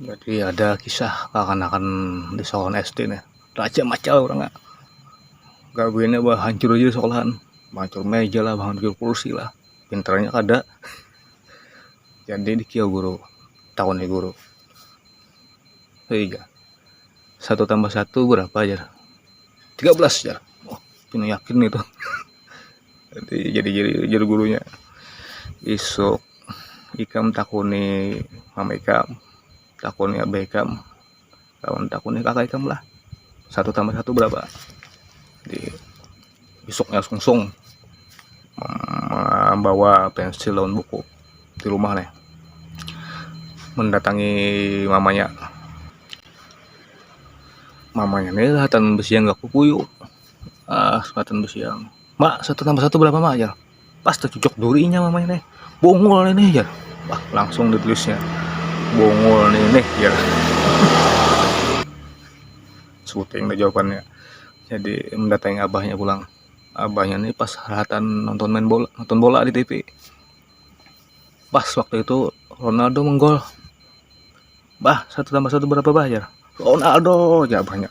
Jadi ada kisah kakanakan di sekolahan SD nih, rajak macal urang nya, gawiannya bah hancur aja di sekolahan, mancur meja lah, mancur kursi lah, pintarnya kada, jadi dikiyau guru, takuni guru, haiga satu tambah satu barapa jar, tiga belas jar, wah pina yakin itu. nanti jadi jadi jadi gurunya isuk ikam takuni mama ikam takuni abah ikam lawan takuni kakak ikam lah satu tambah satu berapa di isuknya sungsung membawa pensil lawan buku di rumah nih mendatangi mamanya mamanya nih lihatan besi yang gak kukuyu ah kesempatan bersiang mak satu tambah satu berapa mak ya pas tercucuk durinya mama ini bongol ini ya wah langsung ditulisnya bongol ini ya syuting deh jawabannya jadi mendatangi abahnya pulang abahnya ini pas haratan nonton main bola nonton bola di TV pas waktu itu Ronaldo menggol bah satu tambah satu berapa bah ya Ronaldo ya abahnya